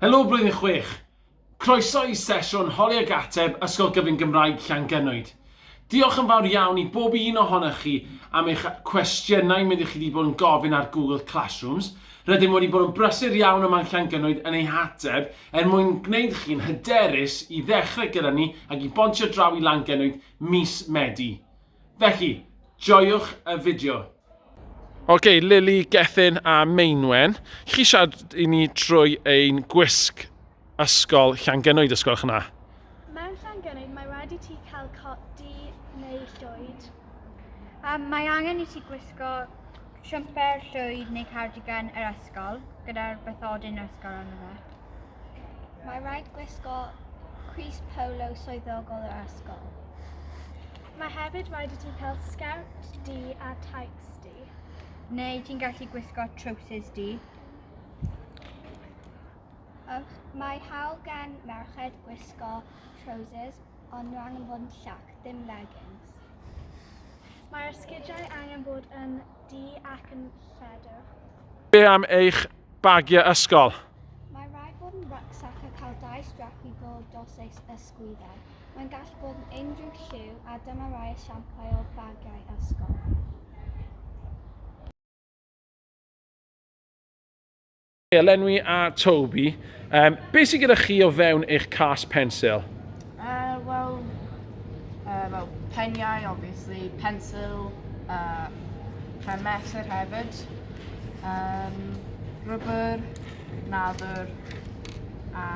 Helo Blwyddyn Chwech! Croeso i sesiwn Holi ac Ateb Ysgol Gyfun Gymraeg Llangynnoed. Diolch yn fawr iawn i bob un ohonoch chi am eich cwestiynau mynd i chi wedi bod yn gofyn ar Google Classrooms. Rydym wedi bod yn brysur iawn yma yn Llangynnoed yn eu hateb er mwyn gwneud chi'n hyderus i ddechrau gyda ni ac i bontio draw i Langynnoed mis Medi. Felly, joiwch y fideo! Ok, Lily, Gethin a Meinwen, chi siarad i ni trwy ein gwisg ysgol Llangenoed, ysgol eich yna? Mewn Llangenoed mae rhaid i ti cael cot du neu llwyd. Um, mae angen i ti gwisgo siwmper, llwyd neu cardigan yr ysgol gyda'r bythodyn yr ysgol arno fe. Mae rhaid gwisgo Chris Polo swyddogol yr ysgol. Mae hefyd rhaid i ti cael sgert di a tights di. Neu ti'n gallu gwisgo trowsus di. Ych, mae hawl gan merched gwisgo trousers ond nhw angen bod yn llac, ddim leggings. Mae'r sgidiau angen bod yn du ac yn lledwch. Be am eich bagiau ysgol? Mae rhaid bod yn rucksack a cael dau strap i bob dos eich ysgwyddau. Mae'n gallu bod yn unrhyw lliw a dyma rai esiamplau o bagiau ysgol. Elenwi a Toby, um, beth sy'n gyda chi o fewn eich cas pensil? Uh, Wel, uh, well, peniau, obviously, pensil, uh, rhan mesur hefyd, um, rubber, nadr, a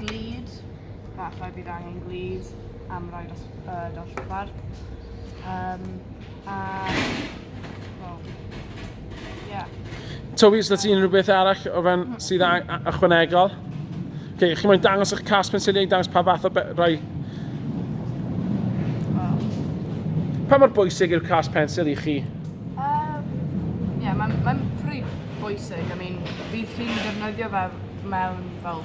glid, falle bydd angen glid am roi dos, uh, dosbarth. Um, A, wel, ie. Yeah. Toby, os da ti unrhyw beth arall o fewn mm. sydd ychwanegol? Okay, chi moyn dangos eich cas pensiliau i dangos pa fath o rai... Pa mor bwysig yw'r cas pensil i chi? Ie, um, yeah, mae'n ma pretty bwysig. I mean, bydd chi'n defnyddio fe mewn fel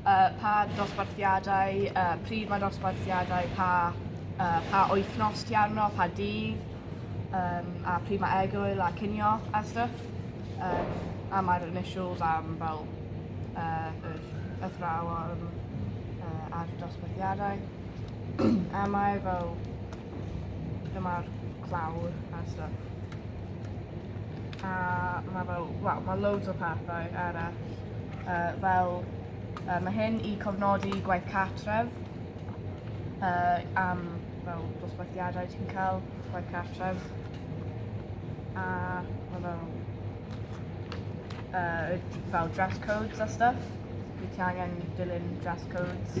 Uh, pa dosbarthiadau, uh, pryd mae dosbarthiadau, pa, uh, pa wythnos ti arno, pa dydd, um, a pryd mae egwyl a cynio a stuff. Um, a mae'r initials am fel uh, yr athrawon uh, a'r dosbarthiadau. a mae fel Dyma'r clawr a stuff. A mae fel, wel, mae loads o pethau eraill. Uh, fel, uh, mae hyn i cofnodi gwaith cartref uh, am fel dosbarthiadau ti'n cael gwaith cartref. A mae fel, uh, fel dress codes a stuff. Wyt ti angen dilyn dress codes.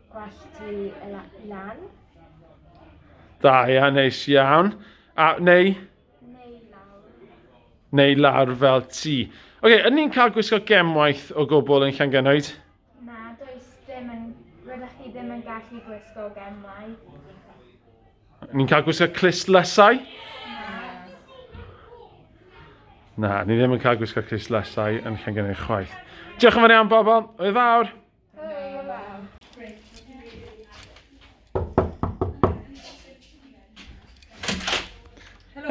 Gwell ti y lan. Da, ia, neis iawn. A, neu? Neu lawr. Neu lawr fel ti. Oce, okay, ydyn ni'n cael gwisgo gemwaith o gwbl yn Llangenwyd? Na, does dim yn... Rydych chi ddim yn gallu gwisgo gemwaith. Ni'n cael gwisgo clustlyssau? Na, ni ddim yn cael gwisgo clustlyssau yn Llangenwyd chwaith. Diolch yn fawr iawn, bobl. Oedd fawr.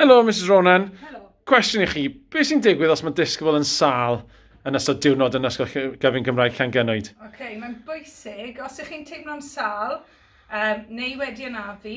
Hello, Mrs Ronan. Hello. Cwestiwn i chi, beth sy'n digwydd os mae disgybl yn sal yn ystod diwrnod yn ysgol gyfyn Gymraeg Llangynwyd? Oce, okay, mae'n bwysig, os ych chi'n teimlo'n sal um, neu wedi anafu,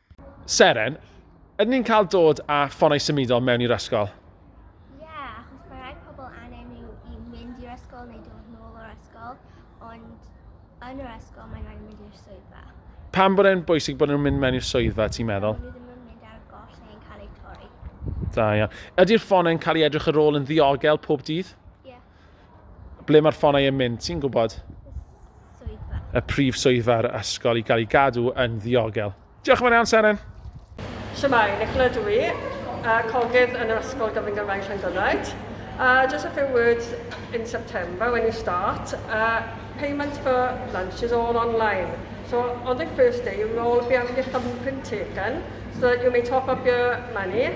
Seren, ydyn ni'n cael dod â ffonau symudol mewn i'r ysgol? Ie, yeah, achos mae rhai pobl angen nhw i mynd i'r ysgol neu dod nôl o'r ysgol, ond yn yr ysgol mae'n rhaid mynd i'r swyddfa. Pam bod e'n bwysig bod nhw'n mynd mewn i'r swyddfa, ti'n meddwl? Nhw ddim yn mynd ar y goll neu'n cael eu torri. Da iawn. Ydy'r ffonau'n cael ei edrych ar ôl yn ddiogel pob dydd? Ie. Yeah. Ble mae'r ffonau yn mynd, ti'n gwybod? Swyddfa. Y prif swyddfa ar y ysgol i gael ei gadw yn ddiogel. Diolch yn fawr iawn, Seren. Siamai, Nicola dw i, a cogydd yn yr Ysgol Gyfrwng Gymraeg Llangynraid. Uh, just a few words in September when you start. Uh, payment for lunch is all online. So on the first day you will all be having your thumbprint taken so that you may top up your money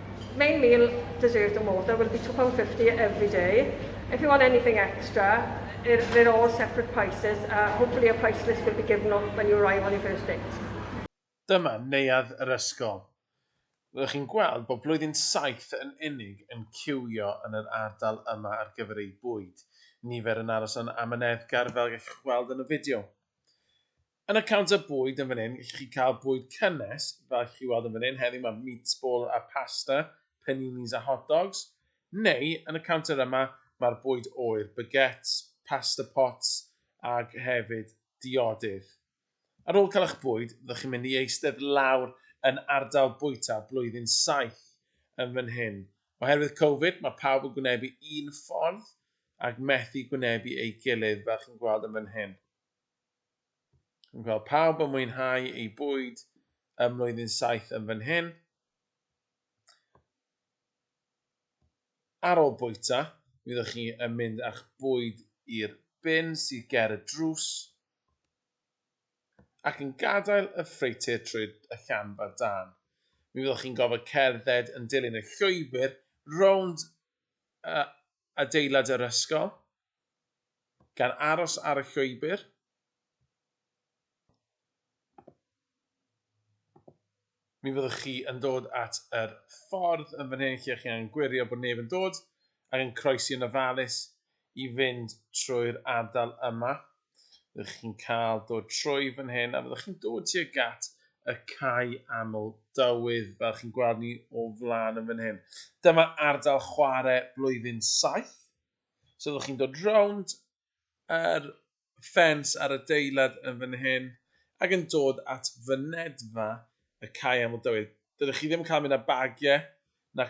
Main meal dessert or more, there will be £2.50 every day. If you want anything extra, they're all separate prices, a hopefully a price list will be given when you arrive on your first date. Dyma neuadd yr ysgol. Fyddwch chi'n gweld bod blwyddyn saith yn unig yn ciwio yn yr ardal yma ar gyfer eu bwyd. Nifer yn aros yn amyneddgar fel gallwch weld yn y fideo. Yn y counter bwyd yn fan hyn, gellwch chi cael bwyd cynnes, fel allwch chi weld yn fan hyn, heddiw mae meatball a pasta, paninis a hot dogs. Neu, yn y counter yma, mae'r bwyd oer, baguettes, pasta pots ac hefyd diodydd. Ar ôl cael eich bwyd, fyddwch chi'n mynd i eistedd lawr yn ardal bwyta blwyddyn saith yn fan hyn. Oherwydd Covid, mae pawb yn gwynebu un ffordd ac methu gwynebu ei gilydd, fel chi'n gweld yn fan hyn. Dwi'n gweld pawb yn mwynhau ei bwyd ym mlwyddyn saith yn fan hyn. Ar ôl bwyta, mi fyddwch chi yn mynd â'ch bwyd i'r bin sydd ger y drws ac yn gadael y ffreutur trwy y llanfa dân. Mi fyddwch chi'n gofod cerdded yn dilyn y llwybr rownd y adeilad yr ysgol, gan aros ar y llwybr, mi fyddwch chi yn dod at yr ffordd yn fan hyn lle chi angen gwirio bod neb yn dod ac yn croesi yn ofalus i fynd trwy'r ardal yma. Fyddwch chi'n cael dod trwy fan hyn a fyddwch chi'n dod tuag at y cae aml dywydd fel chi'n gweld ni o flaen yn fan hyn. Dyma ardal chwarae blwyddyn 7. So fyddwch chi'n dod rownd yr ffens ar y deilad yn fan hyn ac yn dod at fynedfa y cae aml dywydd. Dydych chi ddim yn cael mynd â bagiau na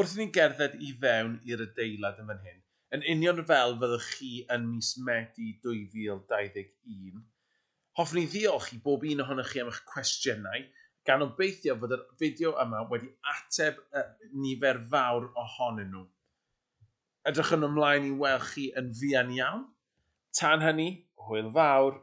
Wrth i ni gerdded i fewn i'r adeilad yn fan hyn, yn union fel fyddwch chi yn mis Medi 2021, hoffwn i ddiolch i bob un ohonoch chi am eich cwestiynau, gan obeithio fod yr fideo yma wedi ateb nifer fawr ohonyn nhw. Edrychwn ymlaen i weld chi yn fuan iawn. Tan hynny, hwyl fawr!